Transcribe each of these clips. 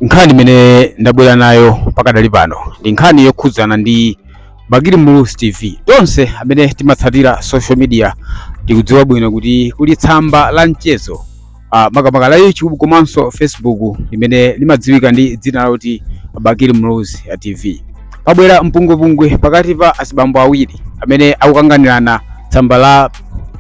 nkhani imene ndabwera nayo pakadali pano ndi nkhani yokhudzana ndi bakili muluzi tv tonse amene timatsatira social media tikudziwa bwino kuti kuli tsamba la mchezo uh, makamaka la youtube komanso facebook limene limadziwika ndi dzina loti bakili muluzi tv ya pabwera mpungwepungwe pakati pa azibambo awiri amene akukanganirana tsamba la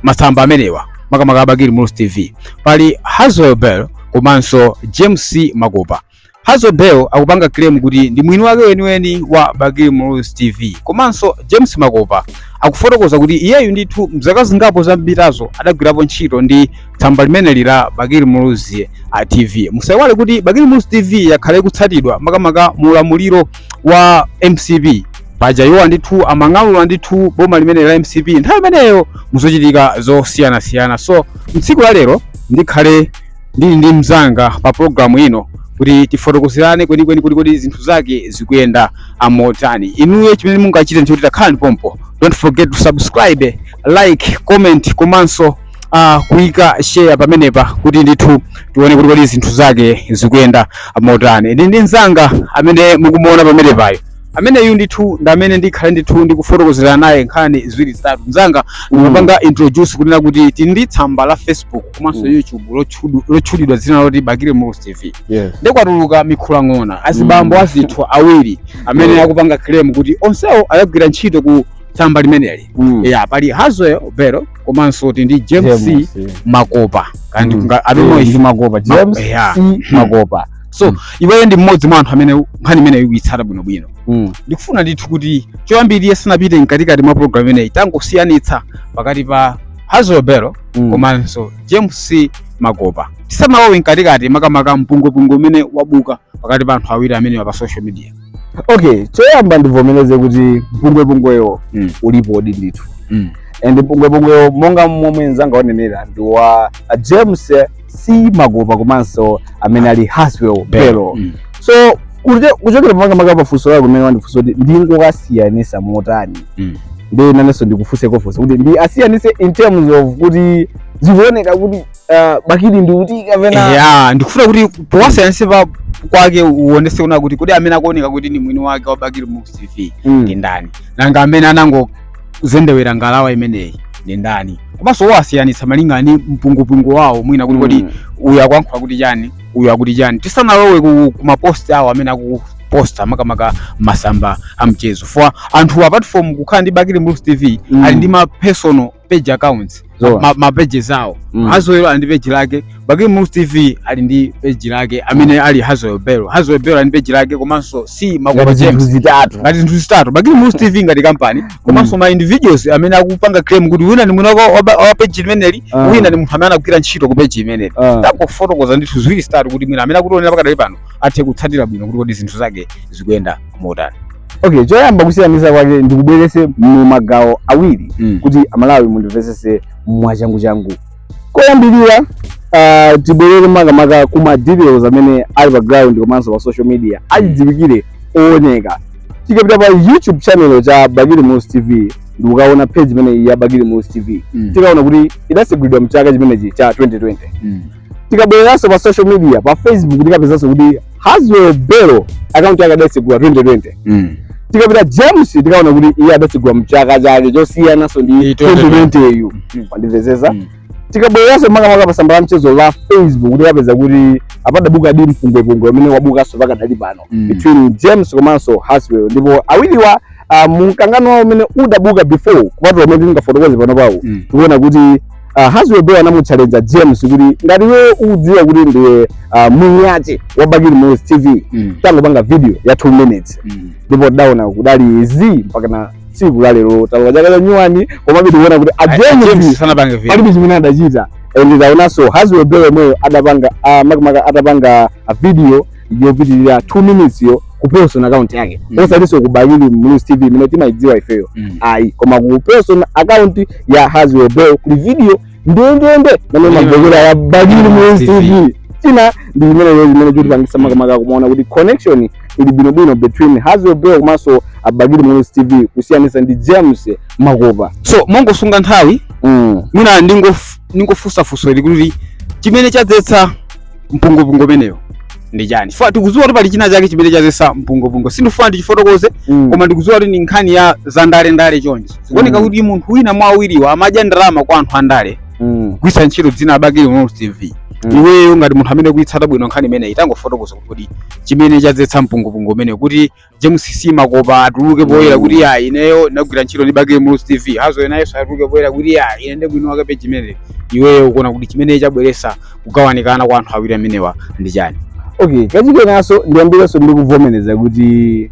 masamba amenewa makamaka a bakili muluzi tv pali hazwell bell komanso james makopa hazwell bell akupanga claim kuti ndi mwini wake weniweni wa bakili muluzi tv komanso james makopa akufotokoza kuti iyeyu ndithu mzaka zingapo zapitazo adagwirapo ntchito ndi tsamba limeneli la bakili muluzi tv musaiwale kuti bakili muluzi tv yakhala ikutsatidwa makamaka mu ulamuliro wa mcp paja iwo a ndithu amang'alula ndithu boma limeneli la mcp nthawi imeneyo muzochitika zosiyanasiyana so mtsiku la lero ndikhale ndili ndi mzanga pa programu ino kuti tifotokozerane kwenikweni kuti kodi zinthu zake zikuyenda motani inuyo chimene mungachite ndichoti takhalani pompo don't forget to subscribe like comment komanso uh, kuyika share pamenepa kuti ndithu tione kuti kodi zinthu zake zikuyenda motani ndili ndi mzanga amene mukumuona pamenepayo ameneyu ndithu ndi amene ndikhale ndithu ndikufotokozera naye nkhani ziwiri zitatu mzanga ndikupanga introduce kunena kuti tili ndi tsamba la facebook komanso Mm. youtube lotchudu- lotchulidwa dzina loti bakili muluzi tv yes ndiye kwatuluka mikhulang'ona azibambo Mm. athu awiri amene Yeah. akupanga claim kuti onsewo adagwira ntchito ku tsamba limeneli Mm. ya pali hazwell belo komanso tili ndi james James, eh. makopa kandi Mm. kunga- I don't know Eh, if- ndi makopa Ma- james yeah. c makopa so iweyo ndi mmodzi mwa anthu amene nkhani imeneyo ukuyitsata bwinobwino Mm. ndikufuna ndithu kuti choyambirira tisanapite mkatikati mwa programu imeneyi tangosiyanitsa pakati pa hazwell belo Mm. komanso james c makopa tisanalowe mkatikati makamaka mpungwepungwe umene wabuka pakati pa anthu awiri amenewa pa social media okay choyamba ndivomereze kuti mpungwepungwewo Mm. ulipodi ndithu Mm. and mpungwepungwewo monga momwe mzanga wanenera ndi wa a james c makopa komanso amene ali hazwell belo Mm. so kute- kuchokera pa makamaka pafunso lako limene wandifunsa kuti ndingowasiyanisa motani Mm. ndi nanenso ndikufunse kofunsa kuti ndiwasiyanise in terms of kuti zikuoneka kuti uh, bakili ndi kuti kapena yeah, ndikufuna kuti powasiyanitsa pakepo uonese kunena kuti kodi amene akuoneka kuti ni mwini wake wa bakili muluzi tv Mm. ndi ndani nanga amene anangozendewera ngalawa imeneyi ndi ndani komanso owasiyanitsa malinga ni mpungwepungwe wawo mwina kuti kodi Mm. uyu akuyankhula kuti chani uyu akuti chani tisanalowe ku, ku mapost awo amene akuposta makamaka masamba a mchezo poti anthuwa apart from kukhala ndi bakili muluzi tv Mm. ali ndi ma personal page accounts Zoona. ma- ma pages awo Mm. Haswell ali ndi page lake Bakili Muluzi TV ali ndi page lake amene ali Haswell Belo Haswell Belo ali ndi page lake komanso Simakopa ngati zinthu james zitatu ngati zinthu zitatu Bakili Muluzi TV ngati kampani komanso ma individuals amene akupanga claim kuti wina ni mwini wa- wa wa page limeneli Ah. wina ni munthu amene anagwira ntchito ku page imeneli Ah. tangofotokoza ndithu ziwiri zitatu kuti mwina amene akutionera pakadali pano athe kutsatira bwino kuti kodi zinthu zake zikuyenda motani okay choyamba kusiyanisa kwake ndikubwerese mu magawo awiri mm. kuti amalawi mundimvesese mwachangu changu koyambirira uh, tibwerere makamaka kuma details amene ali pa ground komanso pa social media achidziwikire ooneka tikapita pa youtube channel cha Bakili Muluzi TV ndikukaona page imeneyi ya Bakili Muluzi TV mm. tikaona kuti idasegulidwa mchaka chimenechi cha 2020 mm. tikabwereranso pa social media pa facebook tikapezanso kuti haswell belo account yake adatsegula 2020 Mm. tikapita james tikaona kuti iye adatsegula mchaka chake chosiyananso ndi Ndi 2020 yo Mhm. mwandimvesesa Mm. tikabwereranso makamaka pa tsamba la mchezo la facebook tikapeza kuti padabukadi mpungwepungwe umene wabukanso pakadali pano Mm. between james komanso haswell ndipo awiriwa uh, mumkangano wawo umene udabuka before kupatula umene tingafotokoze pano pawo Mm. tikuona kuti uh, Haswell Belo anamutchalenja James kuti ngati iwe ukudziwa kuti ndiwe uh, mwini wake wa Bakili Muluzi TV Mm. tangopanga video ya 2 minutes Mm. ndipo tidaona kudali zii mpaka na tsiku la lero talowa chaka cha nyuwani komabe tikuona kuti a A- a James James sanapange video. palibe chimene adachita and taonanso Haswell Belo yemweyo adapanga uh, makamaka atapanga a video yopitirira 2 minutes yo ku personal account yake mm. osatinso ku Bakili Muluzi TV imene timaidziwa ifeyo mm. ayi koma ku personal account ya Haswell Belo kuli video ndendende mmene imamvekera ya Bakili Muluzi TV china ndi chimene lero chimene chotipangisa makamaka kumaona kuti connection ili bwinobwino between Haswell Belo komanso a Bakili Muluzi TV kusiyanisa ndi James Simakopa so mongosunga nthawi mm. mwina ndingofunsa funso ili kuti chimene chadzetsa mpungwepungwe umenewo ndi chani chifukwa tikudziwa kuti pali china chake chimene chazesa mpungwepungwe sindifuna ndichifotokoze Mm. koma ndikudziwa kuti ndi nkhani ya za ndale ndale chonchi zikuoneka Mm. kuti munthu wina mwa awiriwa amadya ndalama kwa anthu andale Mm. kugwiritsa ntchito dzina la Bakili Muluzi TV Mm. iweyo ngati munthu amene ukuitsata bwino nkhani imeneyi tangofotokoza kuti kodi chimene chadzetsa mpungwepungwe umenewo kuti James Simakopa atuluke poyera mm. kuti ya ineyo ndinagwira ntchito ndi Bakili Muluzi TV Haswell naye atuluke poyera kuti ya ine ndi mwini wake page imeneyi iweyo ukuona kuti chimene chabweresa kugawanikana kwa anthu awiri amenewa ndi chani okay kachikenaso ndiyambireso ndi kuvomereza kuti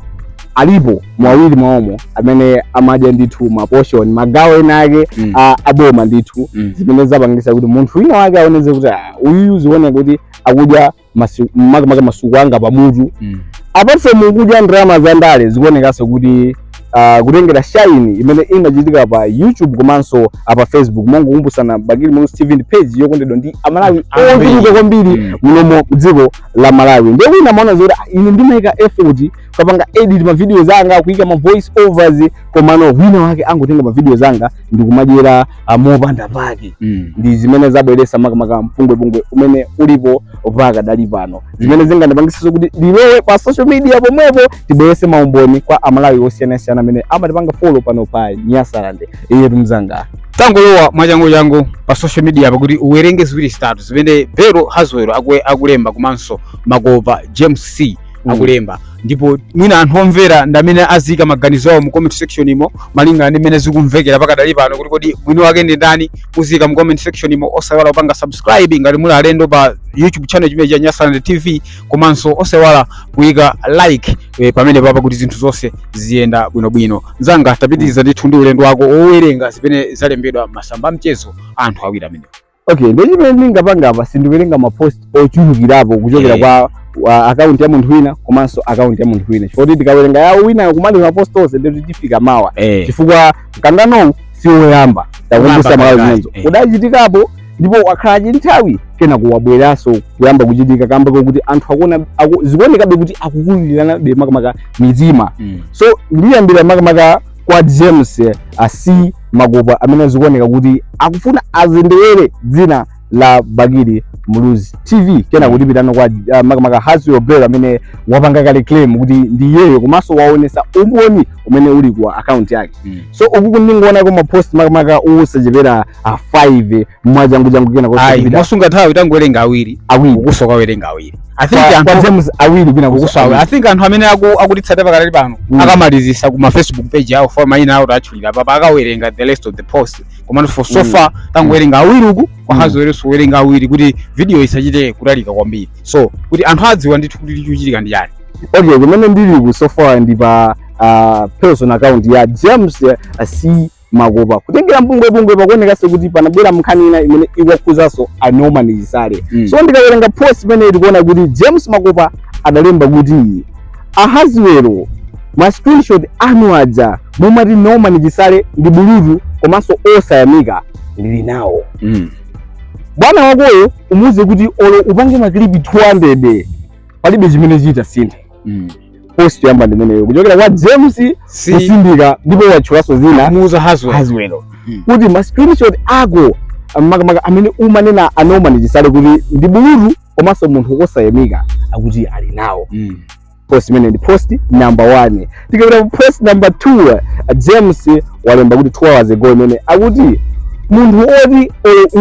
alipo mwa awiri mwaomo amene amadya ndithu ma portion magawo ena ake mm. aboma ndithu mm. zimene zapangisa kuti munthu wina wake aoneze kuti ah, uyu zikuoneka kuti akudya masiku makamaka masuku anga pamutu Mm. apart from kudya ndalama za ndale zikuonekanso kuti uh, kutengera shaini imene imachitika pa youtube komanso pa facebook mongokumbutsana bakili muluzi tv ndi page yokondedwa ndi amalawi Ambiri. ochuluka kwambiri Mm. munomo m'dziko la malawi ndiye wina amaona zoti "Ah, ine ndimayika effort kupanga edit mavideos anga kuyika ma voice overs komano wina wake akungotenga mavideos anga ndikumadyera mopanda pake mm. ndi zimene zabweresa makamaka mpungwepungwe umene ulipo pakadali pano zimene zikutipangisa kuti tilowe pa social media pomwepo tibwerese maumboni kwa amalawi osiyanasiyana amene amatipanga folo pano pa nyasaland ndiyetu mzanga tangolowa mwachangu changu pa social media pakuti uwerenge ziwiri zitatu zimene bero hazwero akulemba komanso makopa james c Mm. akulemba ndipo mwini anthu omvera ndi amene aziika maganizo awo mu comment section imo malingana ndi mmene zikumvekera pakadali pano kuti kodi mwini wake ndi ndani muziika mu comment section imo osaiwala kupanga subscribe ngati muli alendo pa youtube channel chimenechi cha nyasaland tv komanso osaiwala kuyika like eh, pamene papa kuti zinthu zonse ziyenda bwinobwino mzanga tapitiriza ndithu ndi ulendo wako owerenga zimene zalembedwa m'masamba a mchezo a anthu awiri amenewo okay ndiye chimene ndingapanga apa sindiwerenga mapost ochulukirapo kuchokera Eh. kwa akaunti ya munthu wina komanso akaunti ya munthu wina chifukwa choti tikawerenga ya wina uyo kumaliza mapost onse ndikuti tifika mawa eh chifukwa mkanganowu si woyamba takumbusa Woyamba malawi pakati, zimenezo eh. udachitikapo ndipo wakhala kanthawi kenako wabweranso kuyamba kuchitika kamba kokuti anthu akuona aku, zikuonekabe kuti akukuliranabe makamaka mitima mm. so ndiyambira makamaka kwa James C Makopa amene zikuoneka kuti akufuna andendewere dzina la Bakili Muluzi TV kenako tipitano kwa uh, makamaka Hazwero Bero amene wapanga kale claim kuti ndi iyeyo komanso waonesa umboni umene uli kwa account yake mm. so uku ndingoonako mapost makamaka osachepera a 5 mwachangu changu kenako ayi kupita mosunga nthawi tangowerenga awiri awiri ukunso kuwerenga awiri i think kwa anthu kwa James awiri kenako ukunso awiri i think anthu amene aku- akutitsata pakadali pano Mm. akamalizisa ku ma facebook page awo poti mayina awo tatchulira papa akawerenga the rest of the post komano for so Mm. far tangowerenga awiri uku kwa Mm. hazweronso kuwerenga awiri kuti video isachite kutalika kwambiri so kuti anthu adziwe ndithu kuti chikuchitika ndi chani okay kumene ndili kuno so far ndi pa uh, personal account ya James uh, C makopa kutengera mpungwepungwe pakuonekanso kuti panabwera nkhani ina imene ikuwakhuzanso a norman chisale mm. so ndiwerenga post imene tikuona kuti james makopa adalemba kuti a hazwero ma screenshot anu aja mumati norman chisale ndi bulutu komanso osayamika ndili nawo mm. bwana wakoyo umuuze kuti olo upange makilipi 200 palibe chimene chitasinthe mm. post yamba ndimeneyo kuchokera kwa james si kusindika ndipo watchulaso zina muja haswell bello mm. kuti ma screenshot ako makamaka amene umanena a norman chisale kuti ndi bulutu komanso munthu wosayamika akuti ali nawo mm. post imene ndi post number 1 tikapita post number 2 james walemba kuti 2 hours ago imene akuti munthu oti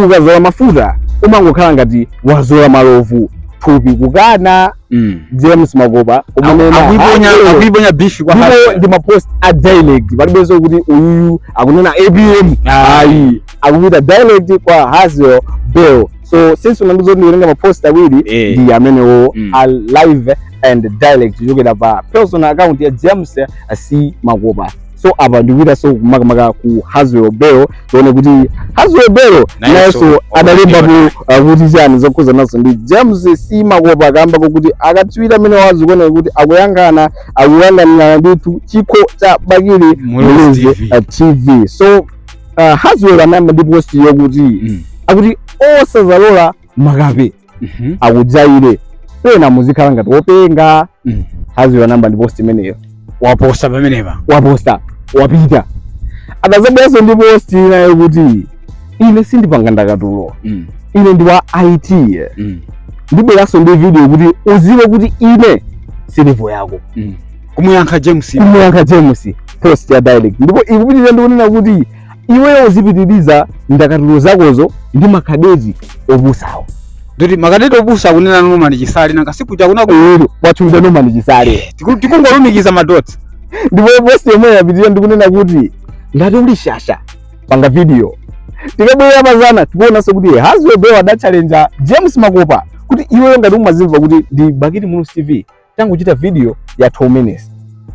ukazola mafuta umangokhala ngati wazola malovu thupi kukana mm. james makopa amene akuiponya bifi kwa ndipo ndi mapost a direct palibenso kuti uyuyu akunena apm ah. ayi akupita direct kwa haswell bello so since unandizo ndikutenga mapost awiri eh. ndi amenewo mm. a live and direct kuchokera pa personal account ya james c makopa so apa ndikupitanso makamaka ku Haswell Bello tione kuti Haswell Bello nayenso adalembapo uh, kuti chani zokhuzanaso ndi James C Makopa kamba kokuti akatswiri amenewa zikuoneka kuti akukangana akukanganirana ndithu chikho cha Bakili Muluzi TV so uh, Haswell anayamba ndi post yokuti Mm. akuti osazalola makape Mhm. akujaire pena muzikhala ngati wopenga Mhm. haswell wayamba ndi post imeneyo waposta pamenepa waposta wapita adazabweranso ndi post inayo kuti ine sindipanga ndakatulo Mm, ine ndi wa it mm, ndibweranso ndi video kuti uziwe kuti ine si level yako mm. kumuyankha james kumuyankha james post ya direct ndipo ikupitiriza ndikunena kuti iweyo uzipitiriza ndakatulo zakozo ndi makadeti opusawo akuti makadeti opusa kunena norman chisale nanga siku chakuna ku ero watchulidwa norman chisale tiku- tikungolumikiza madotsi. ndipo post yomwe yapitirira ndikunena kuti ngati uli shasha panga video tikabwerera mazana tikuonanso kuti haswell bello adatchalenja james makopa kuti iweyo ngati umazimva kuti ndi bakili muluzi tv tangochita video ya 2 minutes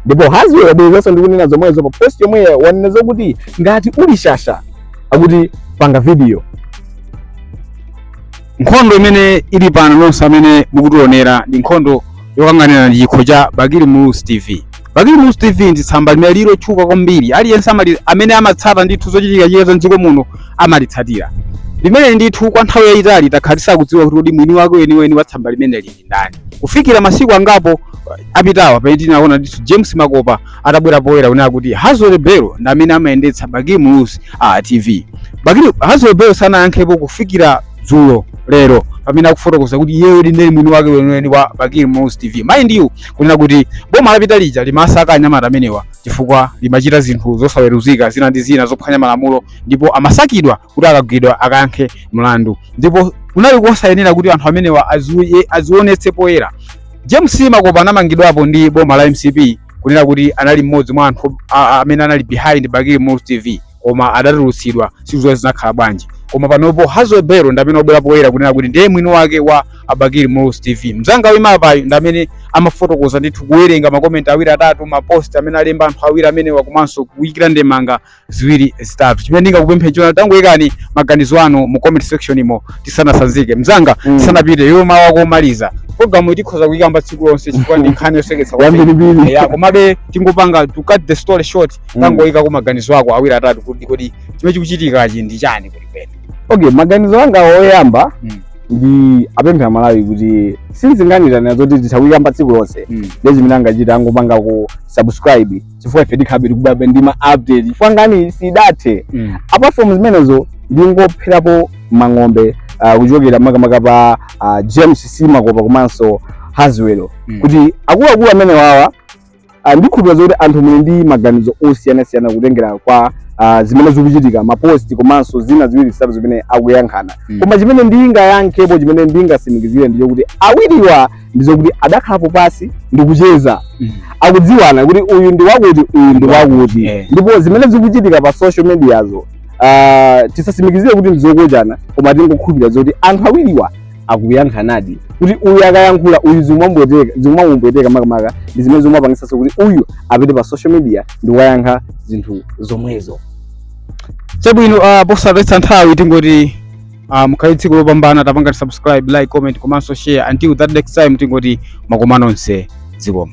ndipo haswell wabwerezanso ndikunena zomwezo pa post yomwe wanena zokuti ngati uli shasha akuti panga video nkhondo imene ili pano nonse amene mukutionera ndi nkhondo yokanganirana chikho cha Bakili Muluzi TV. Bakili Muluzi TV ndi tsamba limene lili lotchuka kwambiri, aliyense amali amene amatsata ndithu zochitikachitika za mdziko muno amalitsatira. Limene ndithu kwa nthawi yayitali takhala tisakudziwa kuti kodi mwini wake weniweni wa tsamba limeneli ndani. Kufikira masiku angapo apitawa pamene tinaona ndithu James Makopa atabwera poyera kunena kuti Haswell Bello ndi amene amayendetsa Bakili Muluzi TV. Bakili Haswell Bello sanayankhepo kufikira dzulo lero pamene akufotokoza kuti iyeyo ndiyedi mwini wake weniweni wa Bakili Muluzi TV. Mind you kunena kuti boma lapita lija limasaka anyamata amenewa chifukwa limachita zinthu zosaweruzika zina ndi zina zophwanya malamulo ndipo amasakidwa kuti akagwidwa akayankhe mlandu ndipo kunali kosayenera kuti anthu amenewa aziwe- azionetse poyera james makopa anamangidwapo ndi boma la mcp kunena kuti anali mmodzi mwa anthu a- a- amene anali behind bakili muluzi tv koma adatulutsidwa sitidziwa zinakhala bwanji koma panopo hazo bero ndi amene wabwera poyera kunena kuti ndiye mwini wake wa bakili muluzi tv mzanga wimapayu ndi amene amafotokoza ndithu kuwerenga makomenti awiri atatu mapost amene alemba anthu awiri amenewa komanso kuyikira ndemanga ziwiri zitatu chimene ndingakupemphe nchoti tangoyikani maganizo anu mu comment section umo tisanasanzike mzanga Mm. tisanapite iwe mawu ako omaliza programu iyi tikhoza kuyikamba tsiku lonse chifukwa ndi nkhani yoseketsa kwambiri. yambirimbiri ya komabe tingopanga to cut the story short Mm. tangoyika ku maganizo ako awiri atatu kuti kodi chimene chikuchitikachi ndi chani kodi pene okay maganizo anga oyamba Mm. ndiwapemphe amalawi kuti sinzinganiranira zoti titha kuyikamba tsiku lonse Mm. nde chimene angachita angopanga ku subscribe chifukwa ife tikhala tikubwerabe ndi ma update chifukwa nkhani sidathe Mm. apart from zimenezo ndingopherapo mphongo uh, kuchokera makamaka pa uh, james makopa komanso haswelo Mm. kuti akuluakulu amene wawa uh, ndikhulupira zoti anthu muli ndi maganizo osiyanasiyana kutengera kwa uh, zimene zikuchitika maposti komanso zina ziwiri zitatu zimene akuyankhulana Mm. koma chimene ndingayankhepo chimene ndingasimikizire ndi chakuti awiriwa ndi zakuti adakhalapo pansi ndikucheza mm. akudziwana kuti uyu ndi wakuti uyu ndi wakuti yeah. ndipo zimene zikuchitika pa social mediazo uh, ah, tisasimikizire kuti ndi zokochana koma tingokhulupirira zoti anthu awiriwa akuyankhanadi kuti uyu akayankhula uyu zimamupweteka makamaka ndi zimene zimamupangisanso kuti uyu apite pa social media ndikukayankha zinthu zomwezo chabwino uh, ah, posataya nthawi tingoti Uh, mukhale ndi tsiku lopambana tapangani subscribe like comment komanso share until that next time tingoti amakhumana onse zikomo